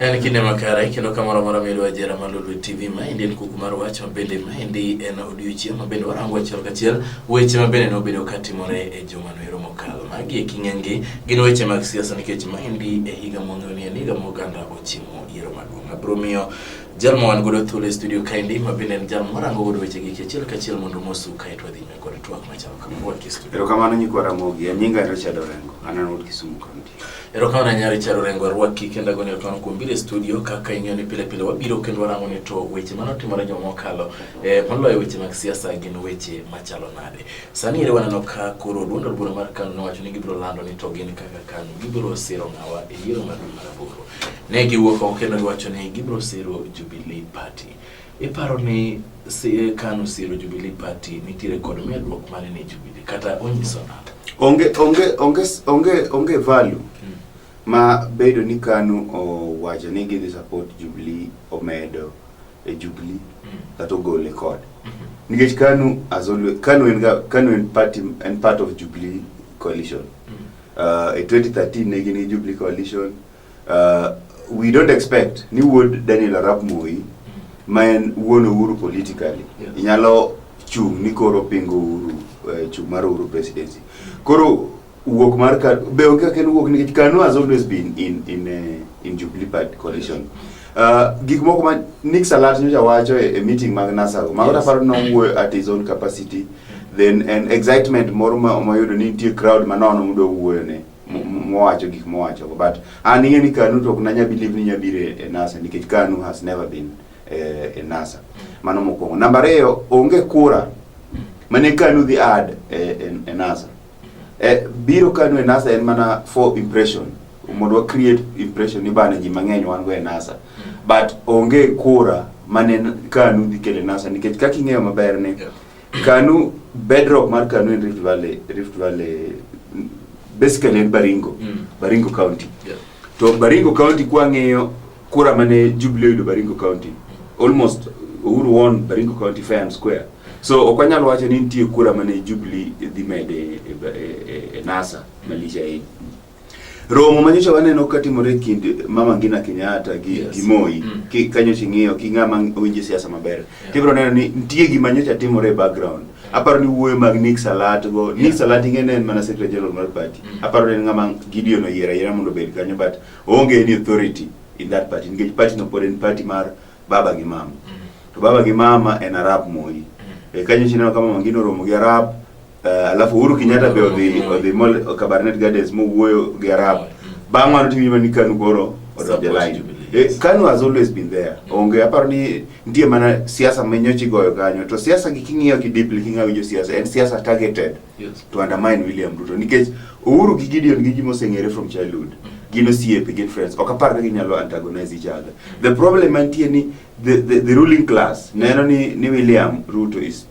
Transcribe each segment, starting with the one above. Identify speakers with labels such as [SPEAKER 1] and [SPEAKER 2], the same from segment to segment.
[SPEAKER 1] En kinde makare kendo kamoro amora midwa jera mar Lolwe TV ma endi en kuku mar wach ma bende ma endi en odiochieng' ma bende warango achiel kachiel weche ma bende nobedo ka timore e juma noero mokalo. Magi e king'engi gin weche mag siasa nikech ma endi e higa mwang'eyo ni en higa moganda ochimo yiero maduong'. Abiro miyo jal ma wan godo thuolo e studio kaendi ma bende en jal mwarango godo weche gi achiel kachiel mondo mosu kae to wadhi nyime kod twak machalo kama wuod Kisumu. Erokamano nyikwa Ramogi,
[SPEAKER 2] an nyinga en Richard Orengo, an an wuod Kisumu County. Erokamano ahinya Richard
[SPEAKER 1] Orengo arwaki kendo agoni erokamano kuom biro e studio kaka ing'eyo ni pile pile wabiro kendo warango ni to weche mane otimore juma mokalo eh, moloyo weche mag siasa gin weche machalo nade. Sani ere waneno ka koro duond od bura mar KANU nowacho ni gibiro lando ni to gin kaka KANU gibiro siro ng'awa e yiero mar dwe mar aboro. Ne giwuok oko kendo giwacho ni gibiro siro Jubilee Party. Iparo ni CA Kanu Siro Jubilee Party nitiere kod medruok mane ne Jubilee kata onyiso nade? Onge onge onge
[SPEAKER 2] onge onge value hmm. ma bedo ni Kanu owacho ni gidhi support Jubilee omedo e Jubilee hmm. kata ogole kod hmm. nikech Kanu as always Kanu en Kanu en party en part of Jubilee coalition uh, e 2013 ne gin gi Jubilee coalition Uh, we don't expect ni wuod Daniel Arap Moi ma en wuon Uhuru politically yeah. inyalo chung' ni koro pingo Uhuru uh, chung' mar Uhuru presidency koro wuok mar ka be onge kaka en wuok nikech Kanu has always been in in uh, in Jubilee Party coalition uh, gik moko ma Nick Salat nyocha wacho e, e meeting mag Nasago mago yes. taparo nowuoyo at his own capacity then an excitement moro ma oyudo ni nitie crowd manono mudo wuoyo ne mowacho gik mowacho but an ing'e ni kanu to ok nanya believe ni nya biro e NASA nikech kanu has never been eh, e NASA mano mokwongo namba ariyo onge kura mane kanu dhi add e, e, e NASA e, biro kanu e NASA en mana for impression mondo wa create impression ni bana ji mang'eny wan go e NASA but onge kura mane kanu dhi kele NASA nikech kaka ing'eyo maber ni Kanu, bedrock mar Kanu in Rift Valley, Rift Valley mm, basically in Baringo, Mm. Baringo County. Yeah. To Baringo County kwang'iyo kura mane Jubilee oyudo Baringo County, almost Uhuru won Baringo County fair and square. So ok wanyal wacho ni nitie kura mane Jubilee dhi mede e, e, e, e NASA malich ahinya. Romo ma nyocha waneno ka timore kind Mama Ngina Kenyatta gi, yes. gi Moi mm. ki, kanyo ching'iyo ki ng'ama owinjo siasa maber yeah. tibro neno ni nitie gima nyocha timore e background yeah. aparo ni wuoyo mag Nick Salat go yeah. Nick Salat ing'e ne en mana secretary general mar party mm. aparo ni en ng'ama Gideon oyiera yiera mondo obed kanyo but onge any authority in that party nikech party no pod en party mar baba gi mama mm. to baba gi mama en Arab Moi mm. e kanyo chineno kama Mama Ngina oromo gi Arab Eh, alafu Uhuru Kenyatta be odhi odhi mol Kabarnet Gardens mowuoyo gi Arab. Bang' mano to iwinjo ni Kanu koro odonjo e line. Eh, Kanu has always been there. Onge aparo ni nitie mana siasa ma nyochi goyo kanyo. To siasa gi king'iyo ki deeply king'iyo jo siasa en siasa targeted Yes. to undermine William Ruto nikech Uhuru gi Gideon gi ji moseng'ere from childhood gin osiepe gin friends ok apar ka ginyalo antagonize each other the problem mantie ni the, the, the ruling class neno ni, ni William Ruto is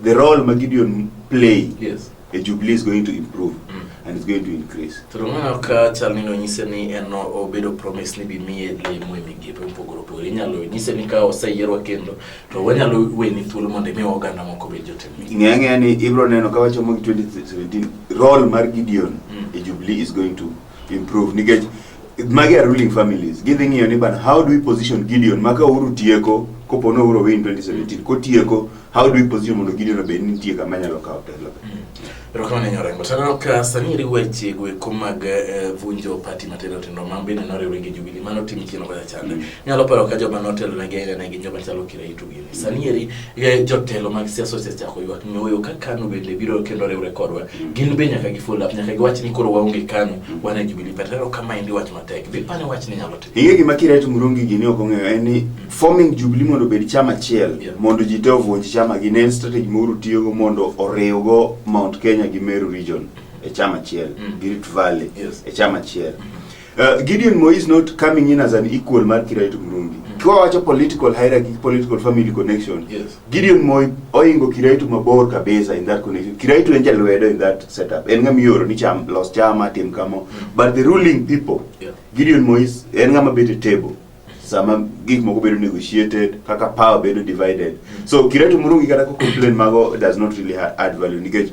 [SPEAKER 2] The role ma Gideon play yes. a Jubilee
[SPEAKER 1] is going to
[SPEAKER 2] improve mm. and it's going to increase. Toro mano ka chal
[SPEAKER 1] ni nonyise ni en obedo promise ni bimiye lemo e migepe mopogore opogore. Inyalo nyise ni ka oseyierwa kendo to wanyalo weni thuolo mondo imi oganda moko bed jotend migepe. Ng'eya ng'eya ni ibro neno
[SPEAKER 2] ka wachomo 2017 role mar Gideon mm. e Jubilee is going to improve nikech magi are ruling families gidhi ng'iyo ni bana how do we position Gideon maka uru tieko kopo no uro win 2017 kotieko how do we position mondo Gideon obed ni nitie kama nyalo kawo telo Erokamano nyoro
[SPEAKER 1] Orengo. Taneno ka sani iri weche goeko mag eh, vunjo pati matindo tindo ma bende noriwre gi Jubilee mano tim chieng' kocha chande. Nyalo paro ka joma notelonegi aina ne gin joma chalo Kiraitu Sani eri eh, jotelo mag siasa osechako ywak nyoyo ka KANU bende biro kendo riwre kodwa. Gin be nyaka gi follow up, nyaka giwach ni koro waonge KANU, wan e Jubilee Party. Koro kama endi wach matek. Be pane wach ni nyalo timo. Ing'e gima Kiret Murungi
[SPEAKER 2] gini ok ong'eyo en ni forming Jubilee mondo obed chama achiel Yeah. mondo ji te ovunj chama gi ne en strategy Uhuru tiyogo mondo oriwgo Mount Kenya gi Meru region e chama achiel Mm. gi Rift Valley Yes. e chama achiel. Uh, Gideon Moi is not coming in as an equal mar Kirait Murungi. Mm. Kwa wacho political hierarchy, political family connection. Yes. Gideon Moi oingo Kirait mabor kabisa in that connection. Kirait en jalwedo in that setup. En ngam yoro ni cham los chama tim kamo. Mm. But the ruling people. Yeah. Gideon Moi is en ngam bit a table. Sama gik moko bedo negotiated, kaka power bedo divided. Mm. So Kirait Murungi kata ko complain mago does not really add value. Nikech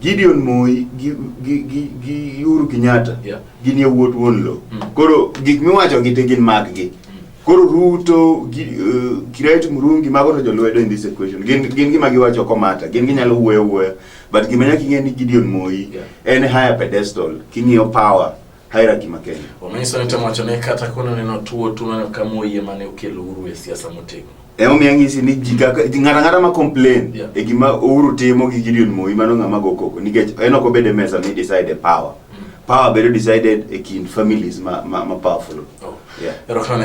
[SPEAKER 2] Gideon Moi gi, gi, gi, gi Uhuru Kenyatta Yeah. gin yawuot wuon lowo Mm. koro gik miwacho gi te gin mag gi koro Ruto gi, uh, Kireti Murungi mago to jolwedo in this equation gin, gin gima giwacho komata gin ginyalo wuoyo wuoyo but gima nyaka ing'e ni Gideon Moi Yeah. en higher pedestal king'iyo power hierarchy ma Kenya. Omiso ni temo wacho ni
[SPEAKER 1] kata kono neno tuo tu mana kama oyie mane okelo uru e siasa motegno. E omiyo ng'isi ni
[SPEAKER 2] ji kaka ng'ata ng'ata ma complain yeah. e gima Uhuru timo gi Gideon Moi mano ng'ama go koko nikech en ok obed e mesa ni decide power. Mm. Power bedo decided e kind families ma, ma, ma powerful. Oh. Yeah.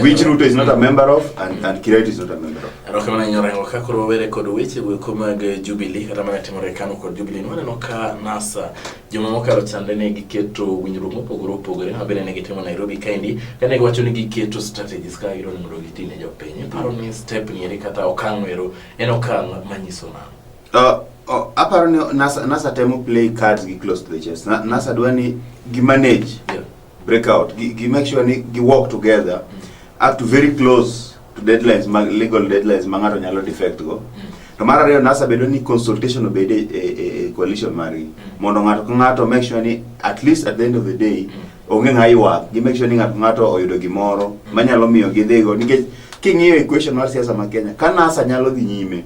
[SPEAKER 2] Which Ruto is not a member of and, mm. and Kirati is not a member of. Erokamano nyora ngo ka
[SPEAKER 1] koro were kod weche we kuma ge Jubilee kata mana timore kanu kod Jubilee nwaneno ka NASA juma mokalo chande ne giketo winjruok mopogore opogore ma bende ne gitimo Nairobi kaendi kane giwacho ni giketo strategies ka gidwa ni mondo giti ne jopiny. Paro ni step ni eri kata okang' ero en okang' manyiso nang'o? Uh, oh, aparo ni
[SPEAKER 2] NASA, NASA temo play cards gi close to the chest. Na, NASA dwa ni gi manage yeah. break out gi, gi make sure ni gi work together up to very close to deadlines mag legal deadlines ma ng'ato nyalo defect go to mar ariyo nasa bedo ni consultation obed e, e, e- e coalition margi mondo ng'ato ka ng'ato make sure ni at least at the end of the day onge ng'a ywak gi make sure ni ng'ato ka ng'ato oyudo gimoro manyalo miyo gidhigo nikech king'iyo equation mar siasa ma Kenya ka nasa nyalo dhi nyime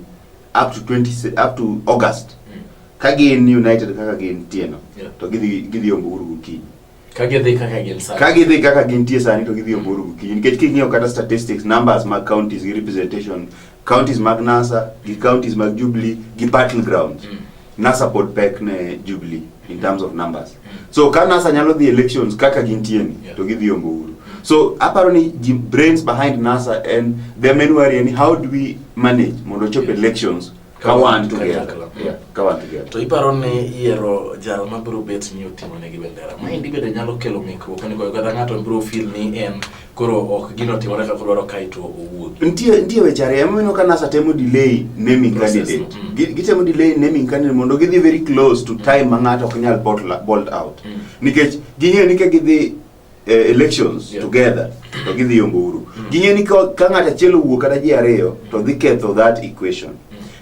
[SPEAKER 2] up to 20 se- up to August ka gin united kaka gin tieno Yeah. to gidhi gidhi ombo uru gokinyi Ka gidhi kaka
[SPEAKER 1] gin sani. Ka gidhi
[SPEAKER 2] kaka gintie sani to gidhi oburu gokinyi nikech king'iyo kata statistics numbers mag counties gi representation counties mag NASA gi counties mag Jubilee gi battle grounds. Mm. NASA pod pek ne Jubilee in terms of numbers. Mm. So ka NASA nyalo dhi elections kaka gintie ni yeah. to gidhi ombo uhuru. So aparo ni the brains behind NASA and the men worry ni how do we manage mondo chop yes. elections ka wan together yeah ka wan together to
[SPEAKER 1] iparo ni yiero jal ma biro bet ni oting'o ne gi bendera ma indi bende nyalo kelo ng'ikruok ni goyo kata ng'ato biro feel ni en koro ok gino timore kaka odwaro kae to owuok nitie nitie weche ariyo ema
[SPEAKER 2] mino ka NASA temo delay naming Process, candidate mm. Gi- gitemo delay naming candidate mondo gidhi very close to time ma ng'ato ok nyal bolt la- bolt out Mm. nikech ging'eyo ni ka gidhi eh, elections Yeah. together to gidhi yombo uru ging'e ni ka ka ng'ato achiel owuok kata ji ariyo to dhi ketho that equation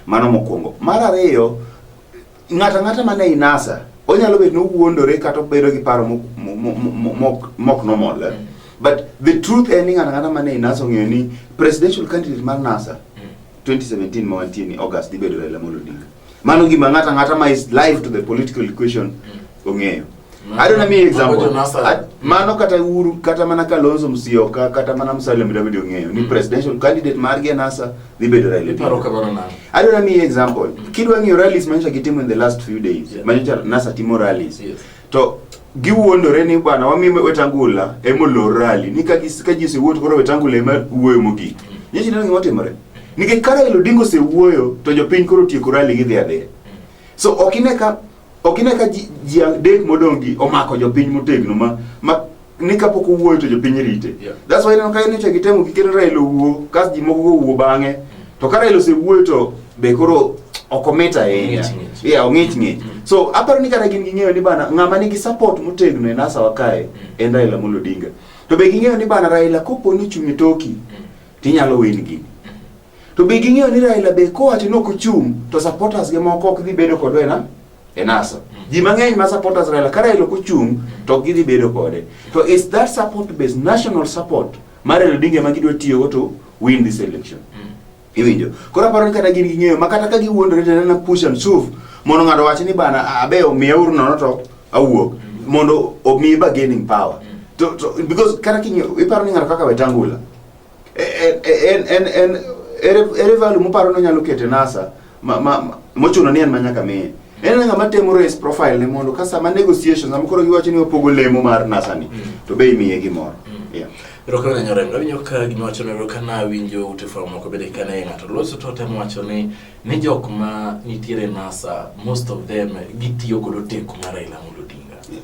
[SPEAKER 2] mano mokwongo mar ariyo ng'ato ang'ata mane ei nasa onyalo bet nowuondore kata obedo gi paro mok- mo- mo- mo- mok- mok normal eh? but the truth en ni ng'ato ang'ata mane ei nasa ong'eyo ni presidential candidate mar nasa 2017 ma wantie ni august dhi bedo raila amolo odinga Mano gima ng'ata ng'ata ma is live to the political equation mm. ong'eyo. I don't know me example. Mano kata Uhuru kata mana Kalonzo Musyoka kata mana Musalia Mudavadi ong'eyo ni mm. presidential candidate margi e NASA dhi bedo Raila Odinga. I don't know me example. Mm. Kidwa ng'iyo rallies manyocha gitimo in the last few days. Manyocha NASA timo rallies. to giwuondore ni bwana wami wetangula emolor rali ni ka gis- ka ji osewuoyo to koro wetangula ema wuoyo mogik nyichi neno gima timore nikech ka Raila Odinga osewuoyo to jopiny koro tieko rali gidhi adhiya so ok ine ka ok ine ka ji ji adek modong' gi omako jopiny motegno ma ma ni kapok owuoyo to jopiny rite yeah. that's why ineno ka nyocha gitemo gikelo Raila owuo kas ji moko owuo bang'e to ka Raila osewuoyo to be koro ok omit ahinya yeah ong'ich ng'ich mm. so aparo ni kata gin ging'eyo ni bana ng'ama nigi support motegno e nasa wakae mm. en Raila Amolo Odinga to be ging'eyo ni bana Raila kopo ni chunye toki mm. tinyalo win gini To be ging'eyo ni Raila be kowacho ni ok ochung' to supporters ge moko ok dhi bedo kodwa ena e NASA. Mm. Ji mang'eny ma supporters Raila ka Raila ok ochung' to ok gidhi bedo kode. To is that support base national support mar Raila Odinga ma gidwa tiyogo to win this election. Mm. Iwinjo? Koro aparo ni kata gin ging'eyo ma kata ka giwuondore to nana push and shove mondo ng'ato wach ni bana abe omiya uru nono to awuok mm. mondo omi bargaining power. Mm. To, to, because kata king'eyo iparo ni ng'ato kaka Wetangula ere value muparo nonyalo kete nasa mochuno ni en manyaka miye en ng'ama temo raise profile ne mondo ka sama negotiations sama koro giwacho ni wapogo lemo mar nasa ni mm. to be imiye gimoro mm. Rokana na nyore,
[SPEAKER 1] ngawinyo ka gino wacho ni rokana winjo ute fwa moko bede kana yenga to loso to temo wacho ni ni jok ma nitiere nasa most of them gitiyo kodo teku mara ila mulo dinga. Yes.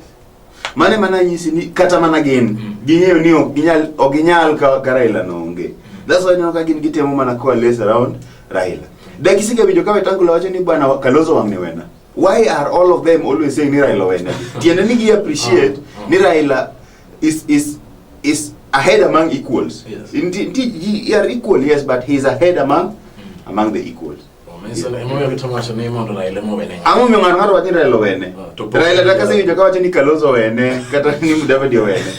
[SPEAKER 2] Mane mana nyisi ni kata mana gin mm. ging'eyo ni ok ginyal ok ginyal ka, ka Raila no onge. Mm. That's why neno ka gin gitemo mana kwa lace around Raila. Dakisi Dakisige bijo kawe tangu lawacho ni bwana Kalonzo wamne wena. Why are all of them always saying ni Raila wena? Tiende ni gi appreciate ah, ah. ni Raila is is is ahead among equals. Yes. Indeed, he,
[SPEAKER 1] he
[SPEAKER 2] are equal, yes, but he is ahead among mm. among the equals.
[SPEAKER 1] Ang'o miyo ng'ato ng'ato wacho ni Raila
[SPEAKER 2] owene? Ah, Raila kata asewinjo ka wacho ni Kalonzo owene kata ni Mudavadi owene.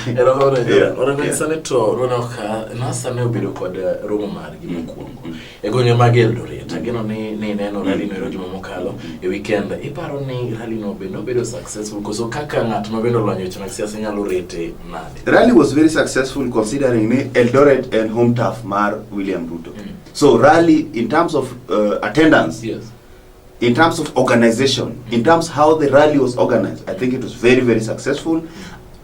[SPEAKER 1] Erokamano to nona ka nasa ne obedo kod eh, romo margi mm, mokwongo mm. e gwenge mag Eldoret. Ageno ni ni neno mm. rally no ero juma mokalo e weekend. Iparo ni rally no be nobedo successful koso kaka ng'at ma bende olony weche mag siasa nyalo rete nade? Rally was very successful
[SPEAKER 2] considering ni Eldoret en home turf mar William Ruto. Mm. So rally in terms of uh, attendance.
[SPEAKER 1] Yes. In terms of
[SPEAKER 2] organization, in terms how the rally was organized, I think it was very very successful.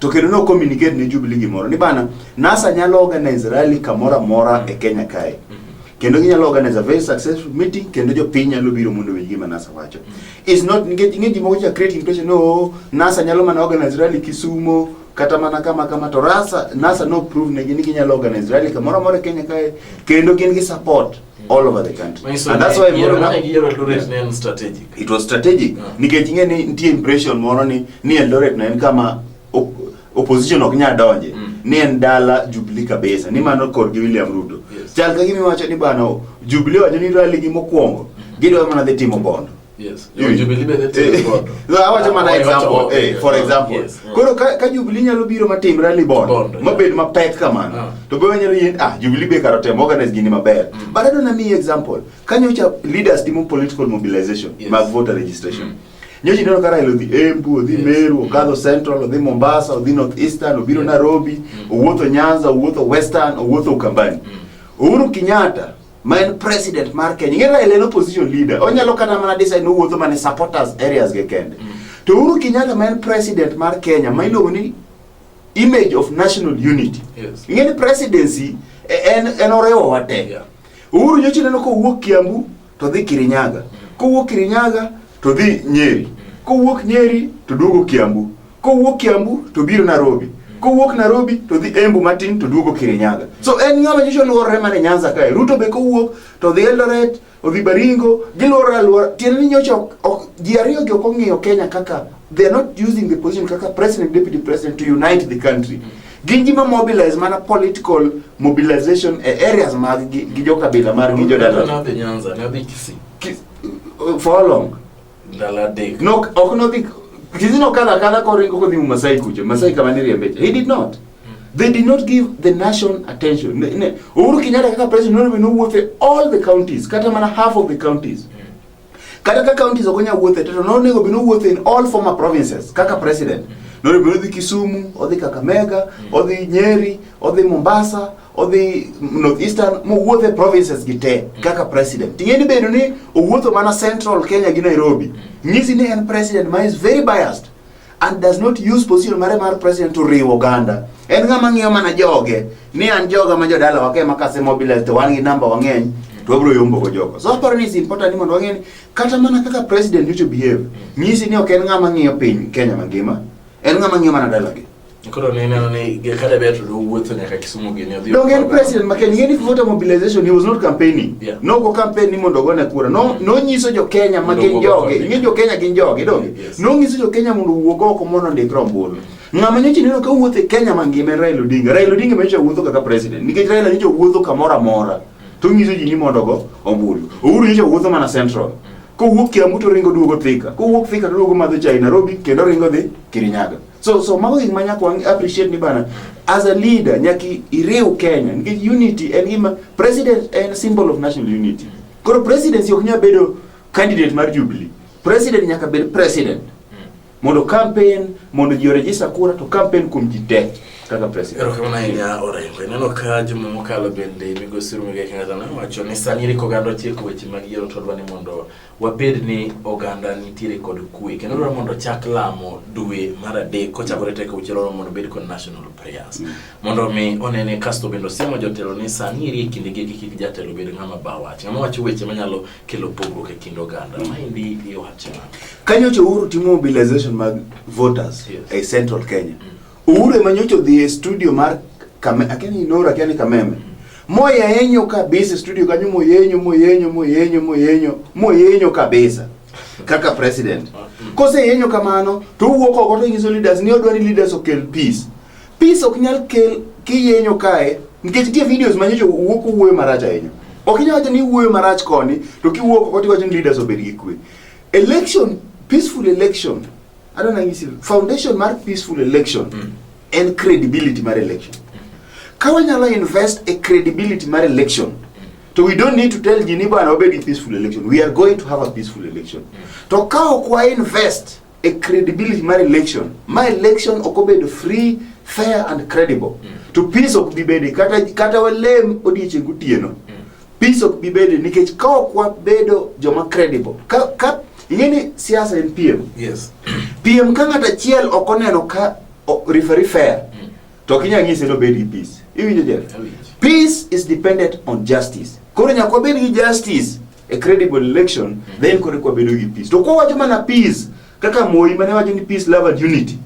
[SPEAKER 2] To kendo no communicate ne Jubilee gimoro ni bana NASA nyalo organize rally kamora mora e Kenya kae. Mm-hmm. kendo ginyalo organize a very successful meeting kendo jopiny nyalo biro mondo owinj gima NASA wacho. Mm-hmm. It's not ngeji moko ja create impression no NASA nyalo mana organize rally Kisumo kata mana kama kama to rasa nasa no prove ne gini ginyalo organize rally kamoro amora Kenya kae kendo gin gi support all over the country Manyiso and that's ni why yiero Moro- kaka yiero Eldoret ne en
[SPEAKER 1] strategic. it was strategic
[SPEAKER 2] Yeah. nikech ing'e ni nitie impression moro ni ni Eldoret na en kama op- opposition ok nya donje Mm. ni en dala Jubilee kabisa ni mano kor gi William Ruto Yes. chal ka gima iwacho ni bana Jubilee wacho ni rally gi mokwongo gidwa mana dhi timo bondo Yes. You, you
[SPEAKER 1] believe in it eh, God. No, I want to man example. Eh,
[SPEAKER 2] for example. Yes. Mm. Koro ka, ka Jubilee nyalo biro matimre ni bond, bond yeah. mabed mapek kamano. Uh. To be nyalo yin ah Jubilee be karo temo organize gini maber. Mm. But I don't know me example. Kanyo cha leaders timo political mobilization, yes. mag voter registration. Mm. nyoji neno kara ilo dhi Embu, odhi yes. Meru, okadho yes. Central, odhi Mombasa, odhi North Eastern, obiro yes. Nairobi, mm. owuotho Nyanza, owuotho Western, owuotho Ukambani. Mm. Uhuru Kenyatta ma en president mar Kenya. Ing'e Raila en opposition leader. Onyalo kata mana decide ni owuotho mana e supporters areas ge kende. To Uhuru Kenyatta ma en president mar Kenya ma iluongo ni image of national unity. Yes. Ing'e ni
[SPEAKER 1] presidency
[SPEAKER 2] e- en en oriwo wate. Yeah. Uhuru nyocha ineno kowuok Kiambu to dhi Kirinyaga. Kowuok Kirinyaga to dhi Nyeri. Kowuok Nyeri to duogo Kiambu. kowuok Kiambu to biro Nairobi kowuok Nairobi to dhi Embu matin to duogo Kirinyaga. So en ng'ama nyicho luorore mana Nyanza kae. Ruto be kowuok to dhi Eldoret, odhi Baringo, giluorore aluora. Tiende ni nyocha ji ariyo gi ok ong'iyo Kenya kaka they are not using the position kaka president deputy president to unite the country. Gin ji ma mobilize mana political mobilization e areas mag gi, gi jo kabila mar gi jo dala. Nadhi Nyanza, nadhi
[SPEAKER 1] Kisii.
[SPEAKER 2] For how long? Ndalo adek.
[SPEAKER 1] No, ok nodhi
[SPEAKER 2] Kizi nokadho akadha koringo kodhi mu Masai kucho. Masai kama ni riembecha. He did not. They did not give the nation attention. Ne, ne. Uhuru Kenyatta kaka president noribe nowuothe all the counties, kata mana half of the counties. Kata ka counties ok onya wuothe to nonego bino wuothe in all former provinces kaka president. Noribe odhi Kisumu, odhi Kakamega, odhi Nyeri, odhi Mombasa, odhi northeastern mowuotho e provinces gi te mm. kaka president ting'eni bedo ni owuotho mana central kenya gi nairobi mm. nyisi ni en president ma is very biased and does not use position mare mar president to riwo oganda en ng'ama ng'iyo mana joge ni an joga ma jodala wake ma kase mobilize to wan gi namba wang'eny to wabiro yombo go jogo so aparo ni is important ni mondo wang'e ni kata mana kaka president need to behave mm. nyisi ni ok en ng'ama ng'iyo piny kenya mangima en ng'ama ng'iyo mana dalagi Koro ne neno
[SPEAKER 1] ni kata be to wuotho nyaka Kisumu gini odhi. Donge en president ma Kenya
[SPEAKER 2] ni voter mobilization he was not campaigning. Yeah. No go campaign
[SPEAKER 1] ni mondo
[SPEAKER 2] ogone kura. No no nyiso jo Kenya ma gin joge. Ing'e jo Kenya gin joge donge. Yes. No nyiso jo Kenya
[SPEAKER 1] mondo
[SPEAKER 2] wuog oko mondo ndik rombulu. Ng'ama nyocha neno ka wuotho e Kenya mangima en Raila Odinga. Raila Odinga mecha wuotho kaka president. Nikech Raila nyocha wuotho kamoro amora. To nyiso ji ni mondo go ombulu. Uhuru nyocha wuotho mana central. Kowuok Kiambu to ringo duogo Thika. Kowuok Thika to duogo madho chai Nairobi kendo ringo dhi Kirinyaga. So so mago gik ma nyaka wang appreciate ni bana as a leader nyaka iriw Kenya nikech unity en gima president en symbol of national unity. Koro presidency ok nyal bedo candidate mar Jubilee. President nyaka bed president. Mondo campaign, mondo ji register kura to campaign kuom ji te kaka president. Erokamano ahinya Orengo.
[SPEAKER 1] Ineno ka juma mokalo bende migosi Ruigai Kenyatta nowacho ni sani iri koganda otieko weche mag yiero to odwa ni mondo wabed ni oganda nitiere kod kwe kendo dwaro mondo chak lamo dwe mar adek kochakore tek auchiel oro mondo obed kod national prayers mm. mondo mi onene kasto bende osiemo jotelo ni sani eri e kinde gi kik jatelo bed ng'ama ba wach ng'ama wacho weche manyalo kelo pogruok e kind oganda mm. maendi iwacho nang'o kanyocha uhuru
[SPEAKER 2] timo mobilization mag voters yes. e central kenya mm. Uhuru ema nyocha odhi e studio mar kame akia ni Inoro akia ni Kameme moyenyo kabisa e studio kanyo moyenyo moyenyo moyenyo moyenyo moyenyo kabisa kaka president koseyenyo kamano to owuok oko to nyiso leaders ni odwa ni leaders okel peace peace ok nyal kel kiyenyo kae nikech tie videos manyocha wuok wuoyo marach ahinya ok inyal wacho ni wuoyo marach koni to kiwuok oko tiwacho ni leaders obed gi kwe election peaceful election Adwa nanyisi foundation mar peaceful election mm. en credibility mar election. Ka wanyalo invest e credibility mar election to we don't need to tell ji ni bwana obed gi peaceful election. We are going to have a peaceful election. To ka ok wa invest e credibility mar election, ma election ok obedo free, fair and credible. To peace ok bi bede kata kata walem odiechieng' gotieno. Peace ok bibede nikech ka ok wabedo joma credible. Ka ka ingeni siasa en piem. Yes.
[SPEAKER 1] Piem ka ng'at
[SPEAKER 2] achiel ok oneno ka o- referee fair Mm. to ok inyal nyise ni obed gi peace. Iwinjo Jeff? Awinjo. Peace is dependent on justice. Koro nyaka wabed gi justice a credible election then koro eka wabedo gi peace. To kwa wacho mana peace kaka Moi mane wacho ni peace love and unity.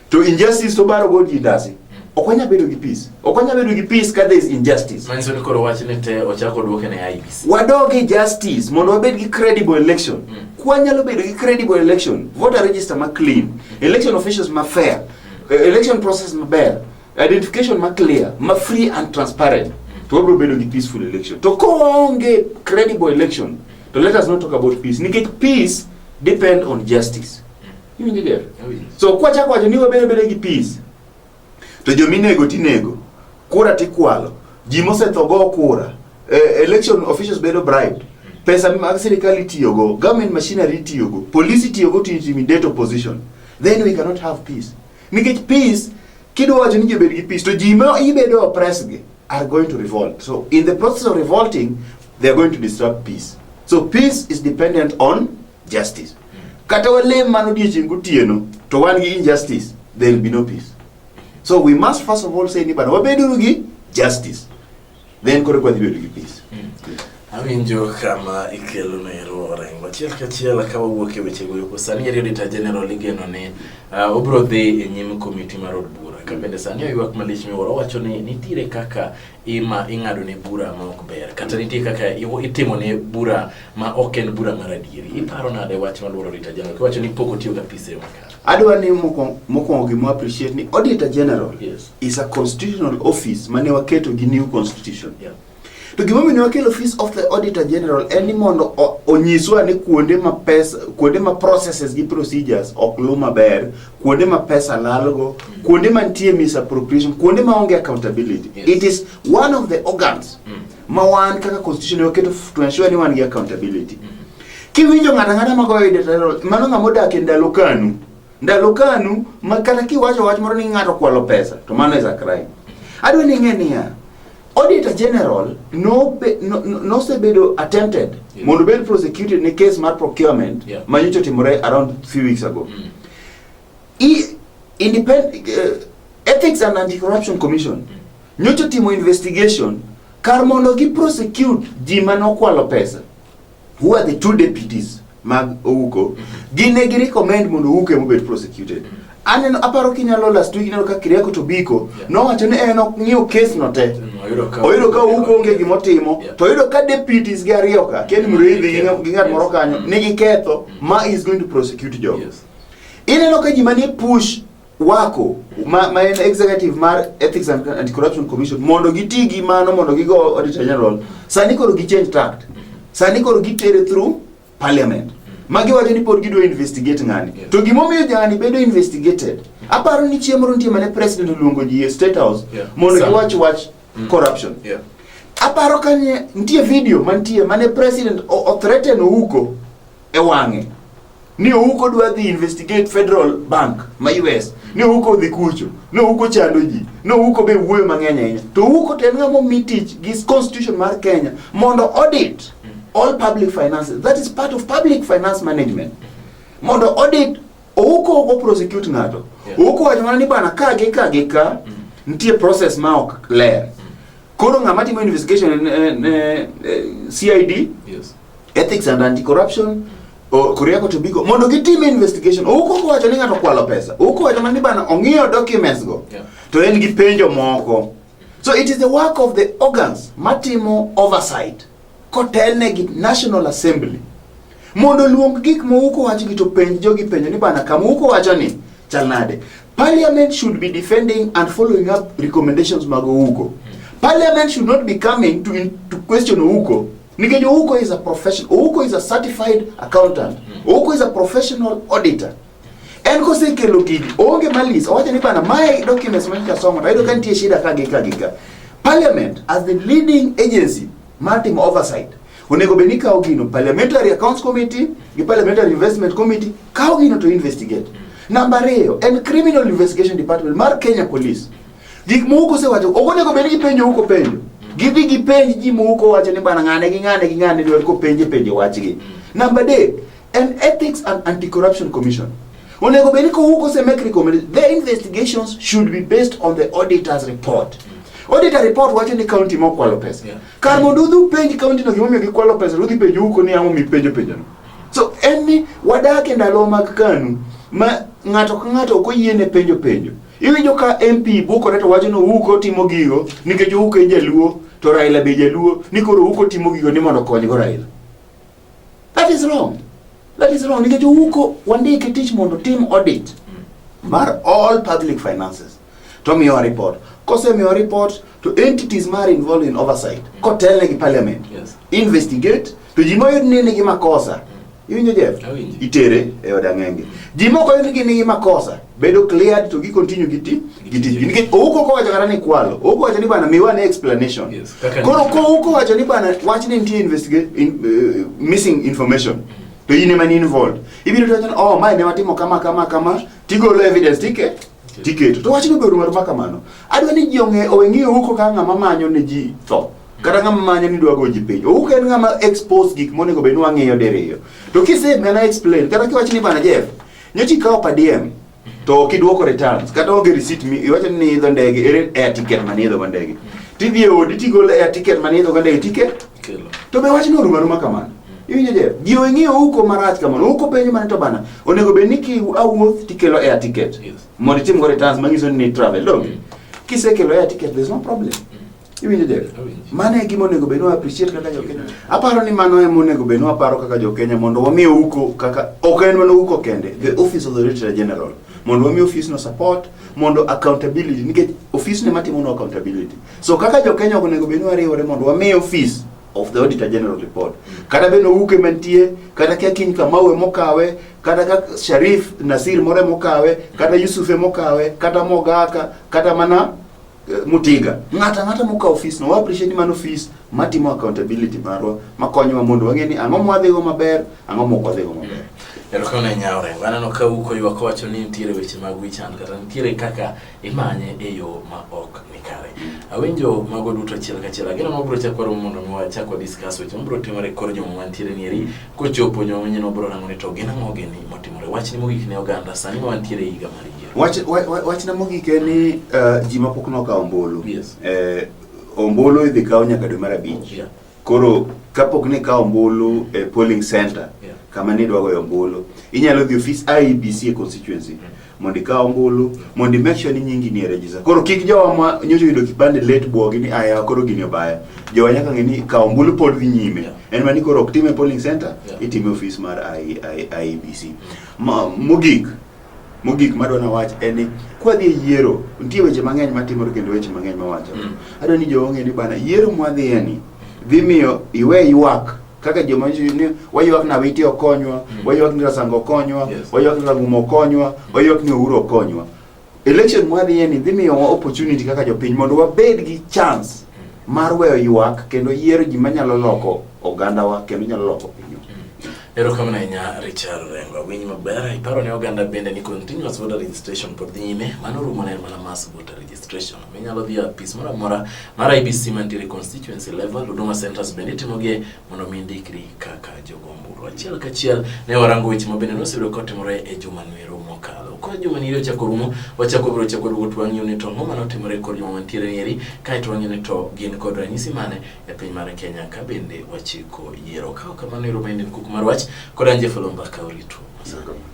[SPEAKER 2] To injustice to baro go ji ndasi. Ok wanya bedo gi peace. Ok wanya bedo gi peace ka there is injustice. Manyiso ni koro wach ni
[SPEAKER 1] te ochako duoke ne IBC. Wadog e justice
[SPEAKER 2] mondo wabed gi credible election. Mm. Kwa nyalo bedo gi credible election, voter register ma clean, election officials ma fair, e, election process ma ber, identification ma clear, ma free and transparent. To wabro bedo gi peaceful election. To koonge credible election, to let us not talk about peace. Nikech peace depend on justice. Iwinjo dia? So kwa chako wacho ni wabere bere gi peace. To jo minego tinego, kura tikwalo, ji mosetho go kura, eh, election officials bedo bribed. Pesa mag sirikal itiyogo, government machinery itiyogo, police itiyogo to intimidate opposition. Then we cannot have peace. Nikech peace kidwa wacho ni ji obed gi peace to ji ma ibedo oppressed gi are going to revolt. So in the process of revolting, they are going to disrupt peace. So peace is dependent on justice. Kata walem mano odiechieng' gotieno to wan gi injustice, there will be no peace. So we must first of all say ni bana wabeduru gi justice. Then koro kwa dhibedo gi peace. Awinjo
[SPEAKER 1] kama ikelo na ero orengo achiel kachiel ka wawuok e weche goeko sani eri Auditor General igeno ni uh, obiro dhi e nyim komiti mar od bura ka bende sani oywak malich miwuoro owacho ni nitiere kaka ima ing'ado ne bura ma ok ber kata nitie kaka itimo ne bura ma ok en bura mar adieri iparo nade wach maluoro Rita General kiwacho ni pok otiyo gapise makare adwa ni
[SPEAKER 2] mokwongo gima appreciate ni Auditor General yes. is a constitutional office mane waketo gi new constitution yeah. to
[SPEAKER 1] gima omiyo wakel
[SPEAKER 2] office of the Auditor General en ni mondo onyiswa ni kuonde ma pesa kuonde ma processes gi procedures ok luw maber kuonde ma pesa lalgo, mm. kuonde ma nitie misappropriation, kuonde ma onge accountability. Yes. It is one of the organs mm. ma wan kaka constitution oketo to ensure ni wan gi accountability. Mm. Kiwinjo ng'ata ng'ata ma goyo editorial, mano ng'ama odak e ndalo kanu. Ndalo kanu ma kata kiwacho wach moro ni ng'ato kwalo pesa, to mano is a crime. Adwa ni ing'e niya, Auditor General nosebedo no, no, no attempted yeah. mondo bed prosecuted ne case mar procurement yeah. ma nyocha otimore around few weeks ago mm. I, independent, uh, Ethics and Anti-Corruption Commission mm. nyocha otimo investigation kar mondo gi prosecute ji ma nokwalo pesa who are the two deputies mag Ouko gine gi recommend mondo Ouko ema obed prosecuted aneno aparo kinyalo last week ineno ka Kiriako to Biko nowacho ni en ok ng'iyo case no te oyudo ka Ouko onge gima otimo to oyudo ka deputies gi ariyo ka Ken mm, Muriithi gi ng'at moro kanyo mm. nigi ketho ma is going to prosecute jogo ineno ka ji manie push wako ma, ma en executive mar Ethics and Anti-Corruption Commission mondo giti gi mano mondo gigo Auditor General sani koro gi change tact sani koro gitere through parliament ma giwacho ni pod gidwa investigate ng'ani Yes. to gimomiyo jani bedo investigated aparo ni chieng' moro nitie mane president oluongo ji e state house Yeah. mondo Sam. giwach wach corruption Yeah. aparo kanye nitie video mantie mane president o- othreaten ouko e wang'e ni ouko dwa dhi investigate federal bank ma us ni ouko odhi kucho ni ouko chando ji ni ouko be wuoyo mang'eny ahinya to ouko to en ng'ama omi tich gi constitution mar kenya mondo audit all public finances that is part of public finance management mondo audit ouko ok prosecute ng'ato Yeah. ouko wacho mana ni bana ka gi ka gi ka nitie process ma ok ler Koro ng'ama timo investigation en en, eh, eh, CID, Yes. Ethics
[SPEAKER 1] and
[SPEAKER 2] Anti-Corruption, o- Koriako Tobiko mondo gitim investigation. Owuok ok owacho ni ng'ato okwalo pesa. Owuok owacho mana ni bana ong'iyo documents go. Yeah. To en gi penjo moko. So it is the work of the organs matimo oversight kotelne gi National Assembly mondo luong gik mouko wachgi to penj jogi penjo ni bana kama uko wacho ni chal nade parliament should be defending and following up recommendations mag ouko parliament should not be coming to, in, to question ouko nikech ouko is a profession ouko is a certified accountant ouko is a professional auditor En kosekelo gigi, onge malis, owacho ni bana mae documents ma nyocha somo, tayudo ka nitie shida ka gi ka gi ka. Parliament as the leading agency mar timo oversight, onego bed ni kawo gino Parliamentary Accounts Committee gi Parliamentary Investment Committee kawo gino to investigate. Namba ariyo en Criminal Investigation Department mar Kenya Police. Gik moko kosewacho, ok onego bed ni gipenjo huko penjo. Gidhi gipenj ji moko wacho ni bana ng'ane gi ng'ane gi ng'ane dwar kopenje penjo wachgi. Namba adek, An Ethics and Anti-Corruption Commission onego bed ni kowuok ose make recommendation the investigations should be based on the auditor's report auditor report wacho ni county ma okwalo pesa Yeah. kar mondo udhi penj county no gimomiyo gikwalo pesa udhi penjo huko ni ang'o mipenjo penjono so en ni wadak e ndalo mag kanu ma ng'ato ka ng'ato ok oyiene penjo penjo iwinjo ka mp bukore to wacho ni huko timo gigo nikech huko e jaluo to raila be jaluo ni koro huko timo gigo ni mondo okonygo raila That is wrong. That is wrong. Nikech uko wandike tich mondo tim audit mar all public finances. To miyo report. Kose miyo report to entities mar involved in oversight. Kotelne gi parliament. Yes. Investigate
[SPEAKER 1] to
[SPEAKER 2] ji moyud ni nigi makosa. Iwinjo Jeff? Awinjo. Itere e od ang'enge. Ji moko yud ni nigi makosa. bedo cleared to gi continue gi ti gi tijgi nikech ouko kowacho kata ni kwalo ouko wacho ni bana miwa ne explanation Yes, kaka koro ni-
[SPEAKER 1] kouko wacho
[SPEAKER 2] ni bana wach ni nitie investigate in, uh, missing information to in ema ni involved ibiro to wacho ni oh mae ne watimo kama kama kama tigolo evidence tike tiketo to wachno bedo mar makamano adwa ni ji ong'e owe ng'eyo ouko ka ng'ama manyo ne ji tho kata ng'ama manyo ni dwa go ji piny ouko en ng'ama expose gik monego bed ni wang'iyo diriyo to kisemena explain kata kiwacho ni bana Jeff Nyocha ikawo per diem to ok iduoko returns kata onge receipt mi iwacho ni idho ndege ere air ticket mane idho go ndege tidhi e odi tigolo air ticket mane idho go ndege ticket Kelo. to be wachni oruma ruma kamano iwinjo je ji ong'eyo uko marach kamano uko penjo mane to bana onego bed ni ki awuoth tikelo air ticket Yes. mondo itim go returns manyiso ni travel dog kisekelo air ticket there's no problem Iwinjo Jeff? Mano e gima onego bedwa appreciate kaka jokenya. Aparo ni mano e monego bedwa aparo kaka jokenya mondo wami uko kaka ok en mana uko kende, the office of the Auditor General. Mondo wami office no support, mondo accountability nikech office ne matimo no accountability. So kaka jokenya onego bedwa wariwore mondo wami office of the Auditor General report. Kata beno uke mantie, kata kia kiny kamawe mokawe, kata ka Sharif Nasir more mokawe, kata Yusuf mokawe, kata Mogaka, kata mana eh, mutiga ng'ata ng'ata mokawo ofis no wa appreciate ni mano ofis matimo accountability marwa makonyowa mondo wang'e ni ang'o mwadhigo maber ang'o mok wadhigo maber erokamano ahinya
[SPEAKER 1] orengo aneno ka uko ywak wacho ni nitiere weche mag wichan kata nitiere kaka imanye e yo ma ok nikare awinjo mago duto achiel kachiel ageno mabiro chako waromo mondo mi wachak wadiscuss weche mabiro timore kor juma mantiere ni eri Kochopo joma manyien wabiro rango ni to gin ang'o gini motimore. Wachni mogik ne oganda sani ma wantiere e higa mar yiero. Wach, wa- wa- wachna mogik en ni uh,
[SPEAKER 2] ji mapok nokawo ombulu Yes. eh,
[SPEAKER 1] ombulu
[SPEAKER 2] idhi kaw nyaka dwe mar abich Yeah. koro kapok ni kawo ombulu e polling center Yeah. kama nidwagoyo
[SPEAKER 1] ombulu
[SPEAKER 2] inyalo dhi ofis IEBC e constituency mondo ikaw ombulu mondo make sure ni nyingi ni e register. Koro kik jowa ma nyocha yudo kipande late buogi ni aya koro gini obaya. Jowa nyaka ng'e ni kaw ombulu pod dhi nyime. Yeah. En mani koro ok time polling center, yeah. itime office mar IEBC. E ma, mogik mogik ma dwana wach en ni kwa dhi yiero nitie weche mang'eny ma timore kendo weche mang'eny ma wacho. Mm. Adwa ni jowa ng'e ni bana yiero mwa dhiye ni dhi miyo iwe ywak kaka joma ni waywak na witi okonywa mm. waywak ni rasango okonywa yes. waywak ni ragumo okonywa mm. waywak ni ouro okonywa election mwadhiye ni dhi miyowa opportunity kaka jopiny mondo wabed gi chance mm. mar weyo ywak kendo yiero ji manyalo loko ogandawa kendo nyalo loko pinywa mm. erokamano
[SPEAKER 1] ahinya richard rengo awinj maber iparo ne oganda bende ni continuous voter registration pod dhi nyime mano rumo ne mana mas voter registration. Minyalo dhi e apis moro amora mar IBC mantiere constituency level, Huduma Centers bende itimogie mondo mi indikri kaka jogombulu. Achiel kachiel ne warango weche ma bende nosebedo kotimore e juma nwero mokalo. Koro juma ni ochako rumo, wachako biro chako rumo to wang'iyo ni to ang'o ma notimore kod joma mantiere nieri, kae to wang'iyo ni to gin kod ranyisi mane e piny mar Kenya ka bende wachiko yiero. Kaok kamano ero ma en kuku mar wach kod Anje Folomba ka orito. Asante.